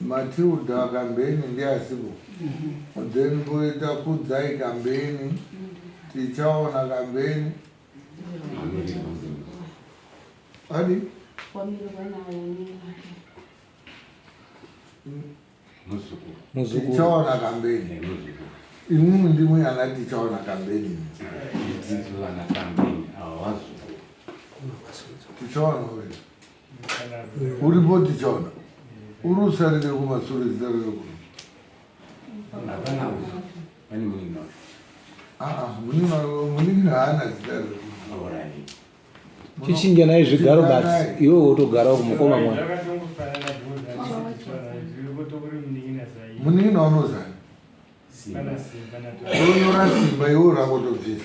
Matilda Kambeni ndiye asipo then poita Kudzai Kambeni, Tichaona Kambeni adi Tichaona Kambeni imimi ndimwe ana Tichaona Kambeni Tichaona uyu uri boti chaona uri usarire kumasure zita rere kuno muningi haana zita rere chichinja naye zvigaro but iwe wotogarawo kumukoma mwa muningi naunozani onora simba iwe rakotobvisa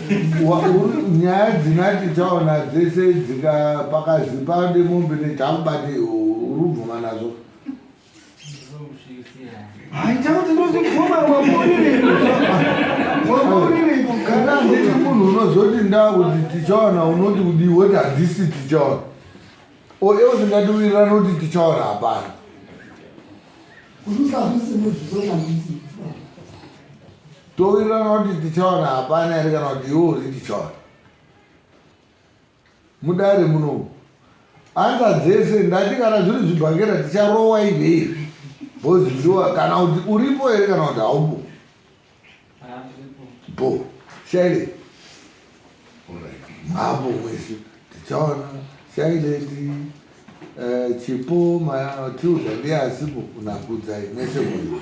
nyaya dzinati taona dzese dzika pakazipa nemombe netakubati urubvuma nazvo kana nditi munhu unozoti ndakuti tichaona unoti kudii woti handisi tichaona o e usingatiwirirani kuti tichaona hapana Towirirana kuti tichawana hapana here kana kuti iwe uri tichawana mudare muno anza dzese ndati kana zviri zvibhakera ticharowa ive izvi bhozi ndiwa kana kuti uripo here kana kuti haupo bo shaile mhambo mwese tichaona shaileti eh, chipo tiuda ndiye asipo kunakudzai mwese mwoyo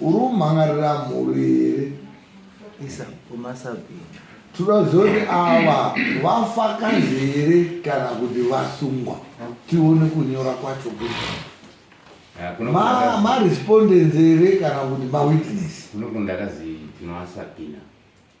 Uri kumhangarira mhuri here? Isa kumasabhini. Toda kuziva kuti ava vafakazi here kana kuti vasungwa tione kunyora kwacho kuti Ma- marespondents here kana kuti mawitness Kuno kundakazi tinovasabhina.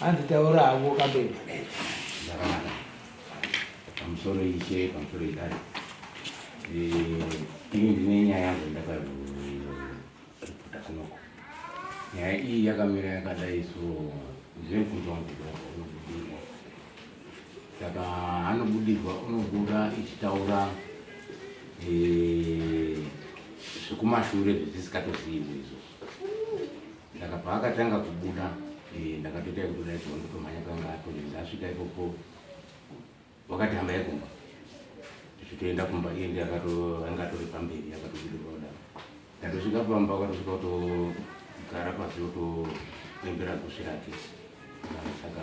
hanzi taura havo kabeba pamusoro ishe pamusoro idari eh, ini ndine nyaya yangu ndakazo nyaya iyi yakamira yakadai so zvinobvunzwa kuti unobudirwa saka anobudirwa unobuda ichitaura eh, zvekumashure zvizisikatozivi izvo saka paakatanga kubuda eh, ndakatoita yekutoda izvo ndotomhanya kanga atonezasvika ipopo wakati hama yekumba tichitoenda kumba iye ndiye anga atori pamberi akatobudirwada ndatosvika pamba akatosvika kutogara pasi otoembera gusi rake saka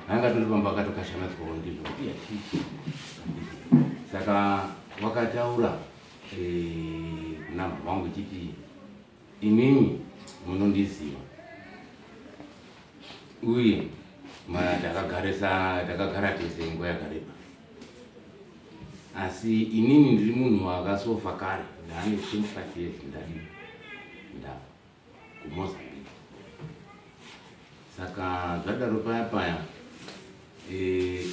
anga atori pamba akatokashamadzwawo ndizvo kuti yachii saka wakataura eh, kunamha wangu chiti Imimi munondiziva uye takagara tese nguva yakareba, asi inini ndiri munhu wakasofa kare ndaane 25 years ndadi ndava kumozambique saka zvadaro paya paya eh,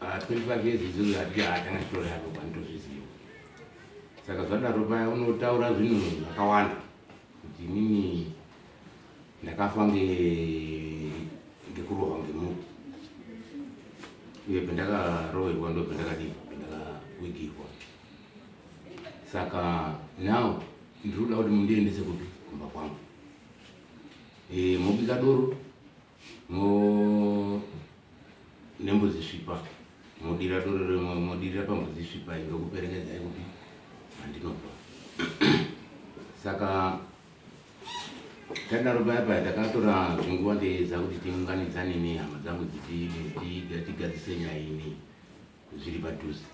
25 years izozo hatiti hatanga chitori yako kwanitozviziva saka zvadaro paya unotaura zvinhu zvakawanda kuti inini ndakafa ngekurohwa ngemuti uye pendakaroverwa ndo pendakadii pendakawigirwa saka now ndiri kuda kuti mundiendese kupi kumba kwangu e, mobika doro nembudzi svipa modirira doro rimwe modirira pambudzi svipa iyi ndokuperekedzai kuti handinobva saka tadaro paya paya takatora zvinguva teedza kuti tiunganidzane nehama dzangu dzitigatigadzise nyaya ini zviri padhuze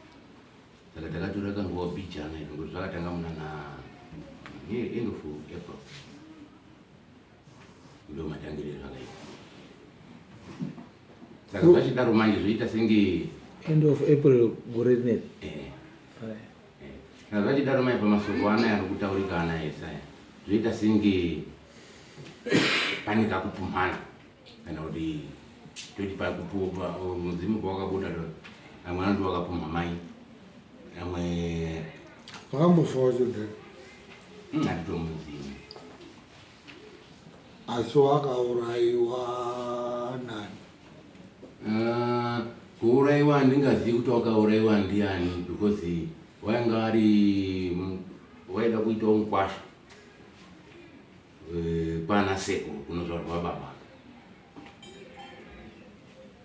saka takatora kanguva bijana izvo ngokuti zvakatanga munana end of april ndomatangire zvakaita saka zvachidaro manje zvoita senge end of april gore rineri eh. eh. saka zvachidaro manje pamasoko anaya ari kutaurika anaya esaya zvoita senge pane kakupumhana kana kuti toti pakupupa mudzimu kwawakabuda amwe anoti wakapumha mai amwe vakambofawa chodhaka hmm, anditomuzivi Asi wakauraiwa nani? Uh, kuuraiwa handingazivi kuti wakauraiwa ndiani because wainga ari waida kuita mukwasha eh, kwana seko kunozvarwa baba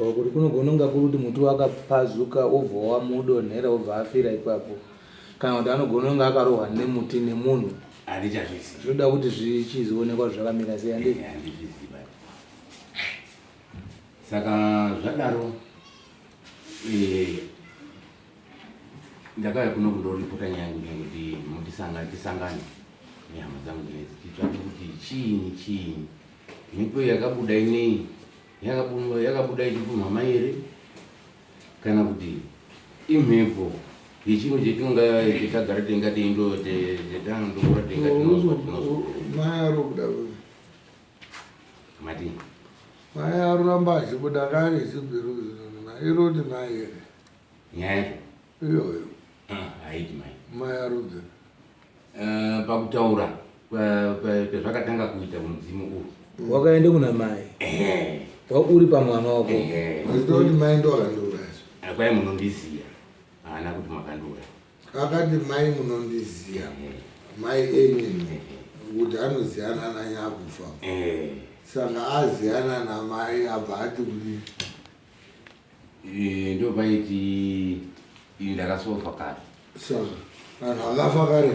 or kuti kunogona kunga kuri kuti muti wakapazuka wobva wamudonhera wobva afira ipapo kana kuti anogona kunga akarohwa nemuti nemunhu zvinoda kuti zvichizionekwa zvakamira sei andi saka zvadaro eh, ndakauya kuno kundoripota nyaya yangu nyange kuti mutisanga tisangane nehama dzangu dzinedzi titsvake kuti chiinyi chiinyi mhepo yakabuda inei yakabuda ichipunhwa mai here kana kuti imhepo yechinhu chetinonga chetagara tenga teindo chetanga ndokura tenga tinozwa tinozwa mai ari kuda mati mai aruramba achibuda kaari chibhiru zvinonuna iroti mai here nyaya yacho iyoyo ah, haiti mai mai arudze eh, pakutaura pezvakatanga kuita mudzimu uhu mm. wakaenda kuna mai eh. wauri pamwana wako aitoti eh. mai ndoakandura akwai munondiziva haana kuti makandura akati mai munondiziva mai enini kuti anoziyana nanyakufa saka aziyana namai abva ati kuti Eh, ndo paiti ini ndakasofa kare saka vanhu vakafa kare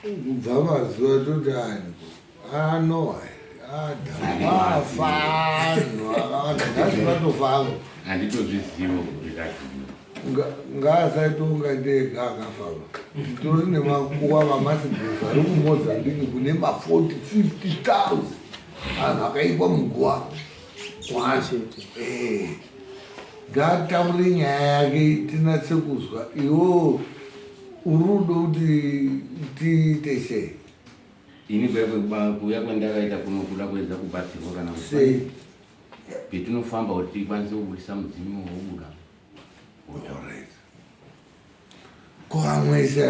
kubva mazuva toti ani ano adafa anhu akawanda nhasi vatofa angu handitozvizivo kuti ndazvii ngaasaitonga ndega akafava tori nemakuwa vamasigirisi ari kumozambiki kune ma40 50 000 anhu akaikwa muguwa Eh, ngaataure nyaya yake tinatse kuzwa iwo urudo kuti tiite sei ini kuya kwendakaita kuno kuda kuedza kubatsirwa kana sei petinofamba kuti tikwanise kubudisa mudzimu wobuda koamwese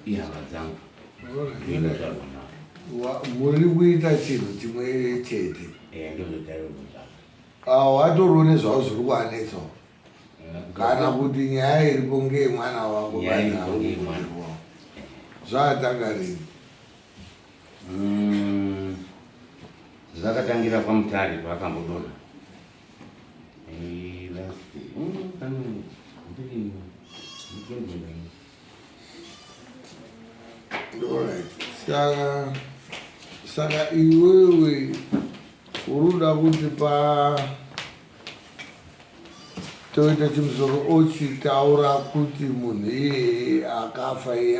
ihama dzangu muri kuita chinhu chimwe chete watoriwo nezvavo zviri kuanetsawo kana kuti nyaya iripo ngeye mwana wako zvaatanga rini mm, zvakatangira kwamutare kwaakambodona saka saka iwewe uruda kuti pa toita chimusoro ochitaura kuti munhu iyeye akafa iye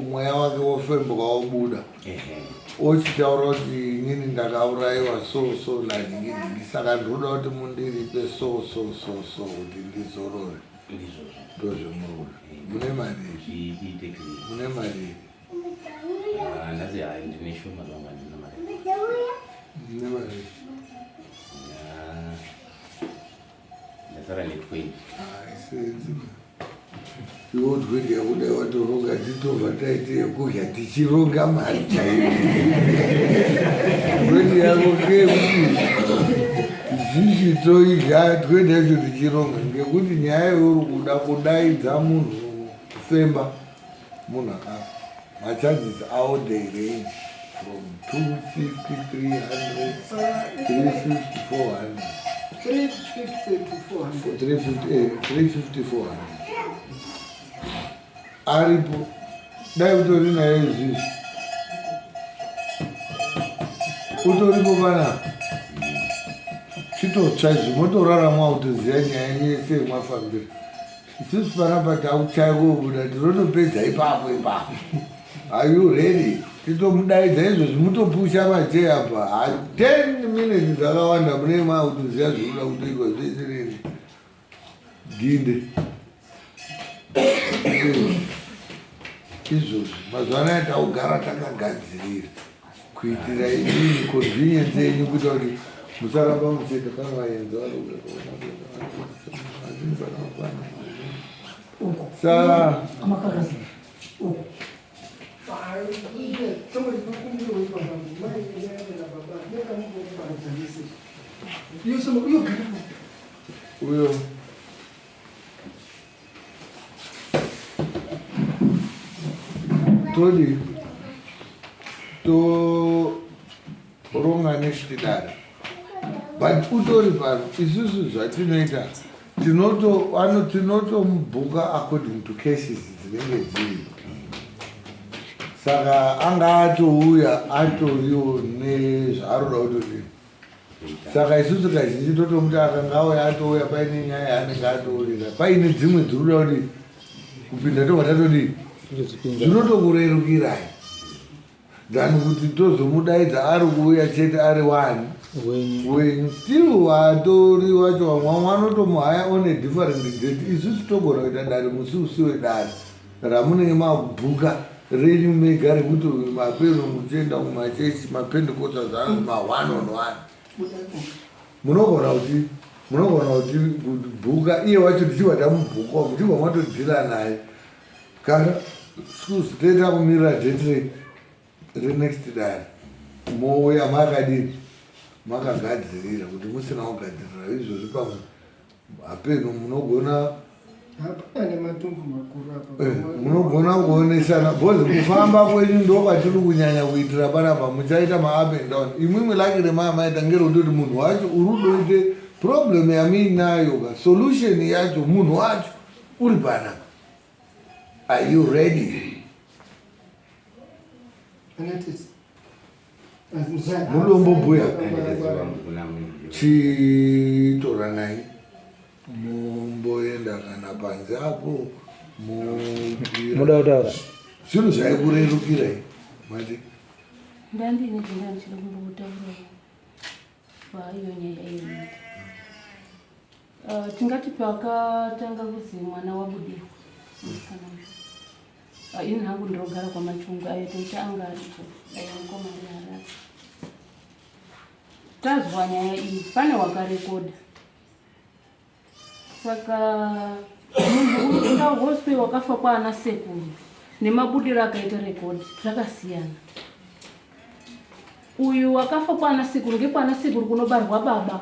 mweya wake wofembuka wobuda ochitaura kuti inini ndakaurayiwa so so lainini saka ndinoda kuti mundiripe so so so so kuti ndizorore ndozvemurura mune mari mune mari mune mari ndasara netwenty iwodwedi yakuda watoronga titova taite yekudya tichironga mari chaiyo dwedi yako ngekuti zvishi toidya dwedi yacho tichironga ngekuti nyaya yauri kuda kudaidza munhu kufemba Munhu akafa machances awo they range from 250 300 350 aripo dai utori nayo izvizvi utoripo panapa chitotsva izvi motorarama kutoziva nyaya yese yemafambiro Isusu panapa takuchaya kuobuda tinotopedza ipapo ipapo. Are you ready? Titomudaidza izvozvi mutopusha macheya apa. Ha 10 minutes dzakawanda mune makutoziva zvinoda kutoitwa zvese nini. Ginde. Izvozvi mazuva anaya takugara takagadzirira. kuitira inini kozviye dzenyu kuita kuti musaramba muchete pane vaenzi varikuaakwana saa uyo todi toronga nezvitidaro but utori pano isusu zvatinoita tinotoano tinotomubhuka according to cases dzinenge dziri saka anga atouya atoriwo nezvaaroda kutoti saka isusu kazhinji totomuti akanga auya atouya paine nyaya yaanenge atoorera paine dzimwe dzirikuda kuti kupinda tobva tatodii zvinotokurerukirai than kuti tozomudaidza ari kuuya chete ari wani wenyu still watori wacho vamwe vanotomuhaya on a different date isusu togona kuita dare musi usi wedare Ramunenge makubhuka renyu mega rekuti uyu mapeno muchienda kumachechi mapendekota zvaanzi ma one on one munogona kuti munogona kuti bhuka iye wacho tichibva tamubhukawo muchibva matodhira naye kana scusi toita kumirira date renext dare mouya makadii makagadzirira kuti musina kugadzirira izvozvi pamwe Hapenhu munogona hapana nematumbu makuru apa eh, munogona kuonesana bhozi kufamba kwenyu ndokwatiri kunyanya kuitira panapa muchaita maup and down imwimwe lake remaa maita ngerondoti munhu wacho urudoite problem yamiinayo ka solution yacho munhu wacho uri pana are you ready mulombo mbuya chitoranai mumboenda kana panze apo muda kutaura zvinhu zvaikurerukirai mati ndandine zvinga ndichiri kumbotaura vaiyo nyaya iyi Uh, tingati pakatanga kuzi mwana wabudirwa musikana uyu uh, ini hangu ndinogara kwamachungu ayo toita anga ariko dai mukoma ari harari tazwa nyaya iyi pane wakarekoda saka munhu uita hospe wakafa kwaana sekuru nemabudiro akaita rekodi zvakasiyana uyu wakafa kwaana sekuru ngekwaana sekuru kunobarwa baba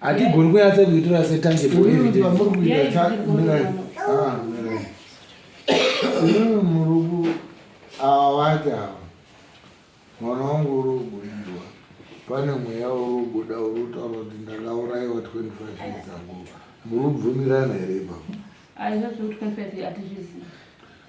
hatigoni kunyatsa kuitora setangible evidence vamuri kuita mirai ah mirai imimi muruku awa wati awa mwana wangu uri kubudidwa pane mweya uri kubuda uri kutaura kuti ndakaurayiwa 25 years ago muri kubvumirana here ipapo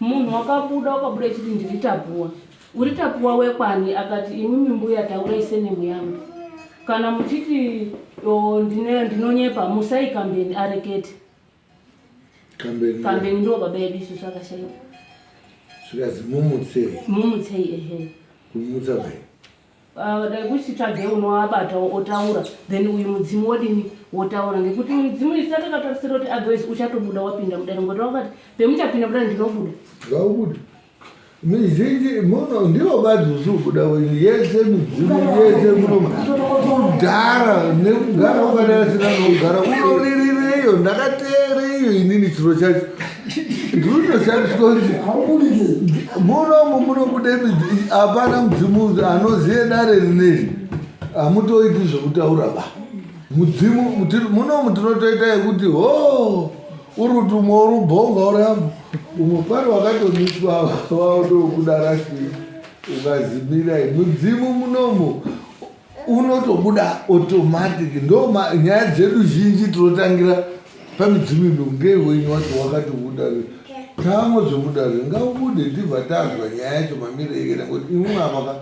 Munhu wakabuda wakabuda achiti ndiri Tapuwa. Uri Tapuwa wekwani? Akati imimi mbuya taurai senemu yangu. Kana muchiti oh, ndine- ndinonyepa musai kambeni arekete. Kambeni Kambeni ndiwo baba edu isusu akashaikwa. zvikanzi mumutsei Mumutsei ehe. kumutsa mai. Uh, dai kuchitsvage unoabata otaura then uyu mudzimu wodini wotaura ngekuti midzimu isi atakatarisira kuti otherwise uchatobuda wapinda mudare ngoti wakati pemuchapinda mudare ndinobuda ngaubuda mizhinji muno ndivo vazuzu kuda wenyu yese midzimu yese munoma kudhara nekugara ukadarasina nokugara unoririreyo ndakateereiyo inini chiro chacho munomu munobude hapana mudzimu anoziye dare rineri hamutoiti zvekutaura ba mudzimu munomu tinotoita yekuti ho uruti umwe urubhonga uramu umwe pari wakatomiswa waotokudarasi ukazimira mudzimu munomu unotobuda automatic ndo nyaya dzedu zhinji tinotangira pamidzimu ino ngewenyu wacho wakati udare tamo zvemudare ngaubude ndibva tazwa nyaya yacho mamire ikena kuti imwe apaka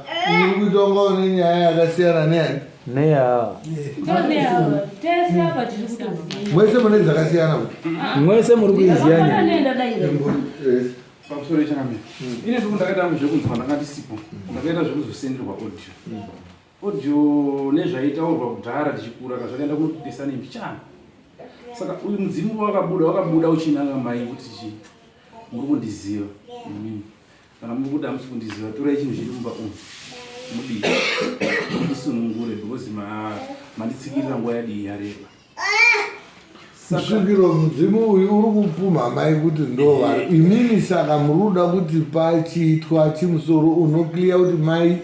uri kuita unga une nyaya yakasiyana neyani mwese mune dzakasiyana mwese muri kuiziya nyaya pamusoro yechangamire mm. ine tuku ndakaita angu zvekunzwa ndanga ndisipo mm. ndakaita zvekuzosenderwa audio mm. audio nezvaitaurwa kudhara tichikura ka zvakaenda kunopesa nembi chana saka uyu mudzimu wakabuda wakabuda uchinanga mai kuti chii muri kundiziva imimi kana muri kuti hamusi kundiziva torai chinhu chiri mumba umu mudii ndisunungure because manditsikirira nguva yadii yareba kusvikiro mudzimu uyu uri kupumha amai kuti ndovari eh. imini saka muri kuda kuti pachiitwa chimusoro unokliya kuti mai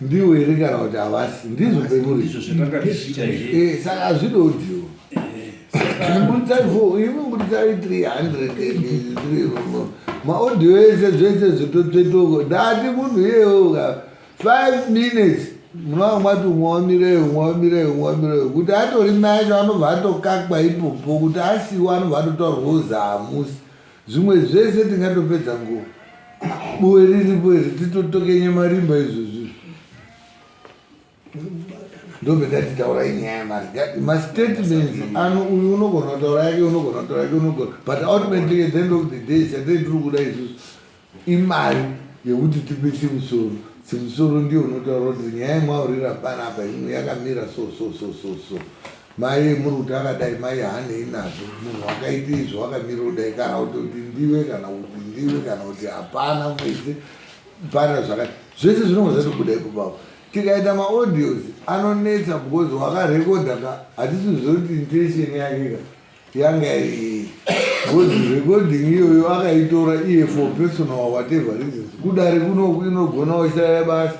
ndiwo here kana kuti havasi ndizvo pemuri eh, saka hazvide udiwo eh, mbudzai fo imi mbudzai 300 maodhiyo ese zvese zvitotsvetoko ndati munhu iyeyoka 5 minutes munova mwati umwawamireyo umwawamireyo umwawamireyo kuti atori macho anobva atokakwa ipopo kuti asiwo anobva atotaurwa uzahamusi zvimwe zvese tingatopedza nguva buwe riripo iri titotokenye marimba izvozvi ndobve ndati taurai nyaya yemari mastatements ano uyu unogona kutaura yake unogona kutaura yake unogona but ultimately at the end of the day chatei tiri kuda izvozvi Imari yekuti tipe chimusoro. Chimusoro ndiyo unotaura kuti nyaya yemwaurira panapa imwe yakamira so so so so so. Mai muri kuti akadai mai hanei nazvo munhu wakaita izvo wakamira kudai kana kuti kuti ndiwe kana kuti ndiwe kana kuti hapana mwese pana zvakati zvese zvinonga zvatobuda ipopapo tikaita maaudios anonetsa because wakarekodha ka hatisi zve kuti intention yake ka yanga iri good recording iyoyo akaitora iye for personal whatever reasons kudare kunoku inogona washaya basa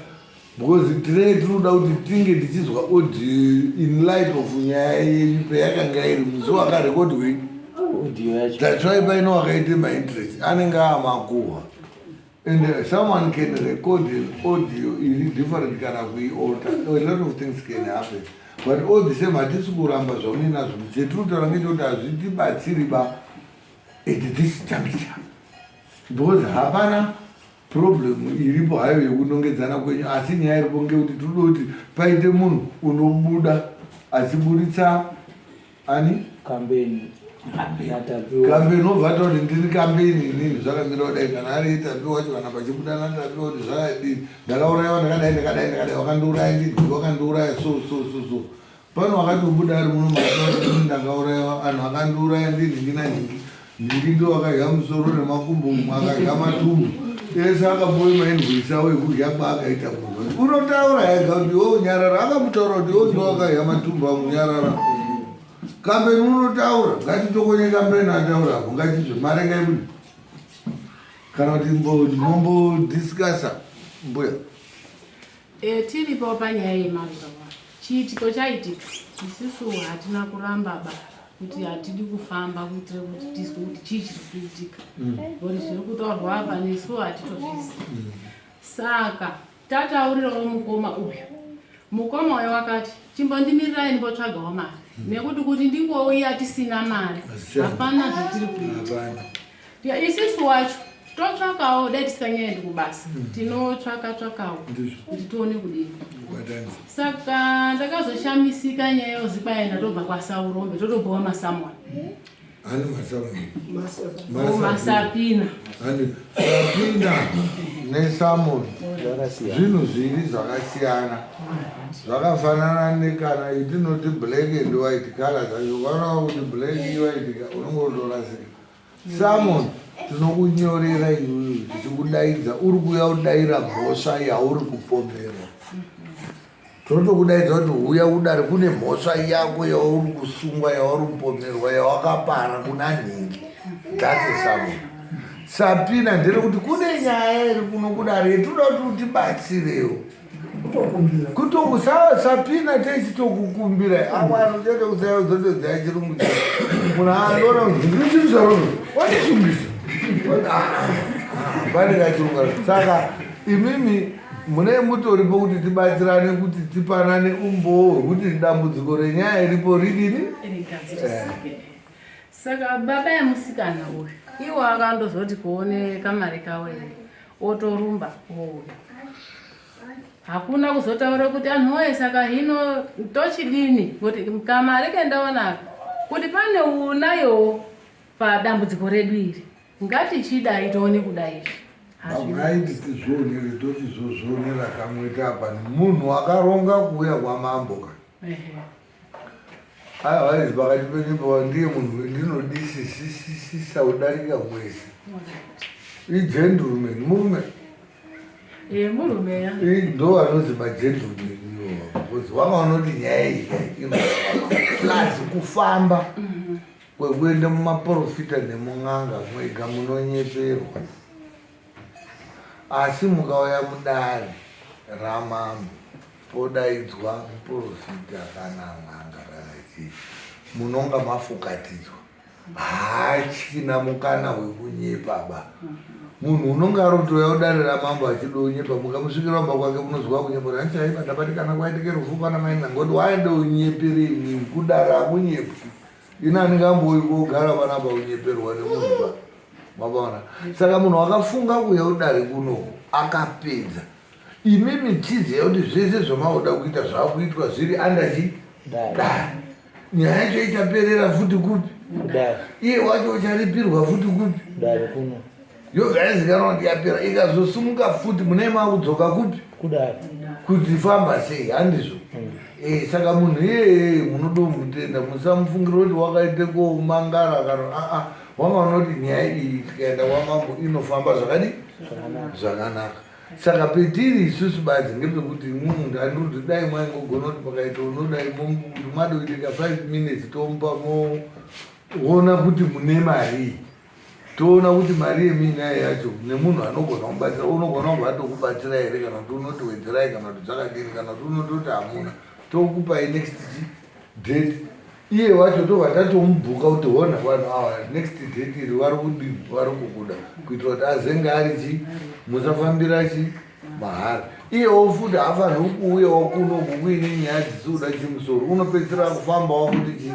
because tinenge tinoda kuti tinge tichizwa audio in light of nyaya yenyu peyakanga iri musi wakarekodwei that's why paino wakaite mainterest anenge amakuhwa And uh, someone can record an audio is different kana kuialter. A lot of things can happen. But all the same hatisi kuramba zvaune nazvo chetinotaura ngechekuti hazvitibatsiri ba at this juncture because hapana problem iripo hayo yekunongedzana kwenyu asi nyaya iripo ngekuti tinoda kuti paite munhu unobuda achiburitsa ani kambeni kambe unobva ata kuti ndiri kambeni inini zvakamira kudai kana ari itapi wacho kana pachibudana tapi kuti zvakadii ndakaurayiwa ndakadai ndakadai ndakadai wakandiuraya ndidii wakandiuraya so so so so pano wakatobuda ari muno maaa ndakaurayiwa anhu akandiuraya ndini ndina nhingi Mirindo akadya musoro nemakumbo mumwe akadya matumbu ese akapuwe mainvoisi awo ekudya kwaakaita kurwa unotaura ega kuti iwo unyarara akamutaura kuti iwo ndo akadya matumbu akunyarara kambeni unotaura ngatitokonye kambeni ataura apo ngatizve marenga ekudi kana kuti mombo discussa mbuya Eh, tiripo panyaya yemazuva chiitiko chaitika isisu hatina kuramba ba kuti hatidi kufamba kuitira kuti tizwe kuti chii chiri kuitika mm. bcause zviri kutaurwa apa nesu hatitozvizi mm. saka tataurirawo mukoma uyu mukoma uyo wakati chimbondimirirayi ndibotsvagawo mari mm. nekuti kuti ndingouya tisina mari hapana zvatiri kuita Yeah, isisu wacho totsvakawo dai tisinganyaendi kubasa hmm. tinotsvaka tsvakawo kuti tione kudii saka ndakazoshamisika nyaya yozikwaya ndatobva kwasaurombe totobhowa masamoni hmm? ani masamoni oh, masapina sapina nesamoni zvinhu zviri zvakasiyana zvakafanana nekana itinoti black and white color zvacho vanawa kuti black iwaidika unongotorasika Samon tinokunyorera iwewe tichikudaidza uri kuuya udaira mhosva yauri kupomerwa tinotokudaidza kuti uya udare kune mhosva yako yauri kusungwa yauri kupomerwa yawakapara kuna nhingi dase samon sapina ndere kuti kune nyaya iri kuno kudare yetoda kuti utibatsirewo kutokumbira kuto usa- sapina tese tokukumbira awano chete usayozotodzaya chirungu chako munhu anoona kuti ndiri chiri zvarono wandisungisa pane kachirunga saka imimi mune mutoripo kuti tibatsirane kuti tipanane umbowo hwekuti dambudziko renyaya iripo ridini rigadzirisike saka baba yemusikana uyu iwo akandozoti kuone kamari kawo here otorumba ouya hakuna kuzotaura kuti anhu woye saka hino tochidini kuti kamari kendaonaka kuti pane unayowo padambudziko redu iri ngatichidai tione kudai izvi hazviiti tizvionere toti zvozvionera kamwe tapa munhu akaronga kuuya kwamambo ka Otherwise pakati penyu pava ndiye munhu wendinodisisisisa kudarika mwese. Igentleman murume. Eh murume ya. Eh ndo anonzi magentleman iwo. Because wanga unoti nyaya iyi plus kufamba kwekuenda mumaporofita nemun'anga mwega munonyeperwa. Asi mukauya mudare ramambo podaidzwa muporofita kana n'anga kana chii munonga mafukatidzwa haachina mukana wekunyepa ba munhu unonga arotouya udare ramambo achida unyepa mukamusvikira wamba kwake munoziva kunyepa kuti hanchaiva ndabatikana kwaitike rufu kwana mainanga kuti waende unyeperei kudare akunyepwi ini handingambouyi kogara panapa kunyeperwa nemunhu ba mabona saka munhu wakafunga kuuya udare kuno akapedza imi mitizi yakuti zvese zvamauda kuita zvakuitwa zviri andachi dare nyaya yacho ichaperera futi kupi iye wacho ucharipirwa futi kupi dare kuno Yo guys cannot yapera ikazosumuka futi mune maudzoka kupi kudari kuti famba sei handizvo mm. eh saka munhu yeye munodo mutenda musamufungira kuti wakaite ko mangara kana a ah, a ah, wanga unoti nyaya iyi tikaenda kwa mambo inofamba zvakadi zvakanaka saka petiri isusu badzi ngepekuti munhu andirudi dai mwaingogona kuti pakaita unodai momuti mwadoiteka five minutes tomupa moona kuti mune marii toona kuti mari yeminai yacho nemunhu anogona kubatsira unogona kunge atokubatsira here kana kuti unoti wedzerai kana kuti zvakadini kana kuti unototi hamuna tokupai next date iye wacho tobva tatomubhuka kuti hona vanhu ava next date iri vari kudini vari kukuda kuitira kuti azenge ari chii musafambira chii mahara iyewo futi hafanhi ukuuyawo kuno kukuine nyaya dzisiuda chimusoro unopedzisira kufamba wakuti chi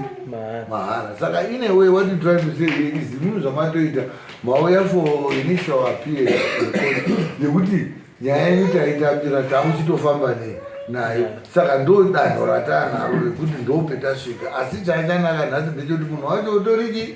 mahara saka ine way what you try to say here is imimi zvamatoita mauya for initial appear yekuti nyaya yenyu taitambira tamuchitofamba nei nayo saka ndo danho ratanaro rekuti ndopetasvika asi chaichanaka nhasi ndechekuti munhu wacho utoriki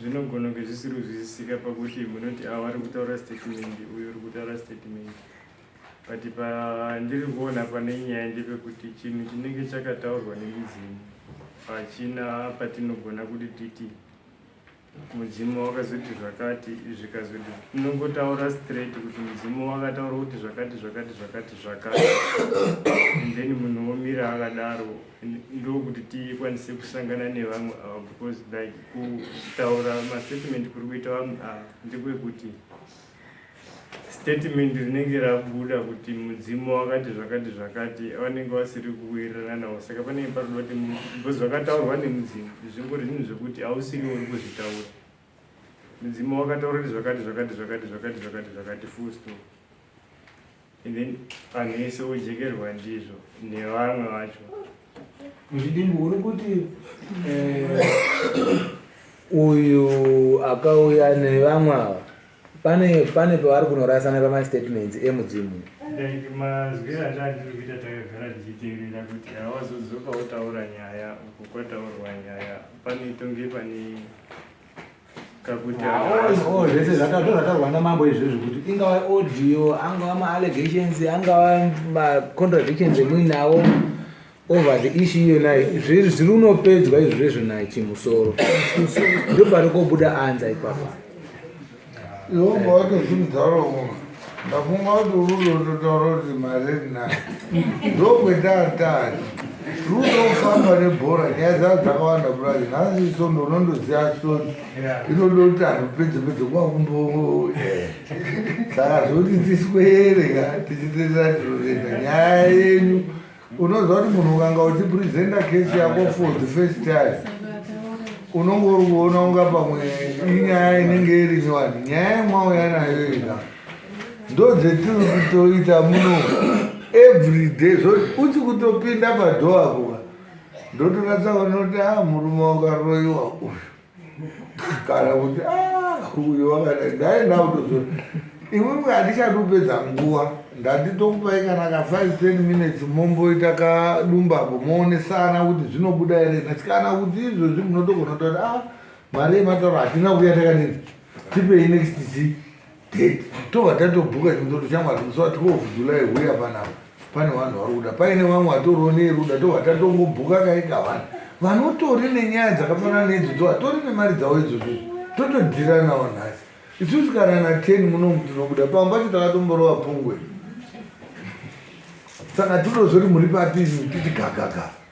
Zvinogona kunge zvisiri kuzwisisika pakuti munoti ava ari kutaura sitetimende uyu uri kutaura sitetimende but pandiri kuona pane nyaya ndepekuti chinhu chinenge chakataurwa nemudzimu pachina patinogona kuti titi mudzimu wakazoti zvakati zvikazoti tinongotaura straight kuti mudzimu wakataura kuti zvakati zvakati zvakati zvakati and then munhu womira akadaro ndokuti tikwanise kusangana nevamwe ava because like kutaura mastatement kuri kuita vamwe ava ndekwekuti statement rinenge rabuda kuti mudzimu wakati zvakati zvakati vanenge vasiri kuwirirana navo saka panenge paruda kuti because vakataurwa nemudzimu zvingori zvinhu zvekuti hausiri uri kuzvitaura mudzimu wakataura kuti zvakati zvakati zvakati zvakati zvakati zvakati full stop and then vanhu vese vojekerwa ndizvo nevamwe vacho ndidimbu uri kuti eh, uyu akauya nevamwe ava pane pane pavari kunorasana pamastatements emudzimu like mazwiro andandiri kuita takagara tichiteerera kuti hawazodzoka wotaura nyaya uko kwataurwa nyaya pane tonge pane zvese zvataurwa namambo izvi zvekuti ingava audio angava maallegations angava macontradictions emuinawo over the issue iyonayo zviri zviri unopedzwa izvezvo nachimusoro ndopari kobuda anza ipapa Yehova wacho simudzarowo ndafunga kuti urudototaura kuti mari ndinayo ndokwetaatari rudofamba nebhora nyaya dzaa dzakawanda kudai nhasi iso ndonondoziva soni inoda kuti anhu pedze pedze kuva kumbo eh. saka zvoti tiswere ka tichitenderatiroenda nyaya yenyu unoziva kuti munhu ukanga uchipresenta case yako for the first time unonge uri kuona unga pamwe inyaya inenge iri nyowani nyaya yemwauya nayo ina ndo dzetiri kutoita muno every day zvo uchi kutopinda padhoa kuva ndotonatsa vanoti a ah, murume wakaroyiwa uyu kana kuti ah, uyo wakadai dai ndautozo iwewe handichadi kupedza nguva ndatitokupai kana ka 5 10 minutes momboita kadumbapo moonesana kuti zvinobuda here nhasi kana kuti izvozvi munotogona kutoti a ah, mari yematauro hatina kuya takanini tipei next zii date tova tatobhuka chimwe toti shamwari musi wa 12 july huya panapa pane vanhu vari kuda paine vamwe vatoriwo neruda tova tatongobhuka kaika vanhu vanotori nenyaya dzakafanana neidzodzo vatori nemari dzavo idzodzo totodhiranawo nhasi isusu kana na 10 munomu tinobuda pamwe pacho takatomborova pungwe saka tinozoti muri papi titi gagagava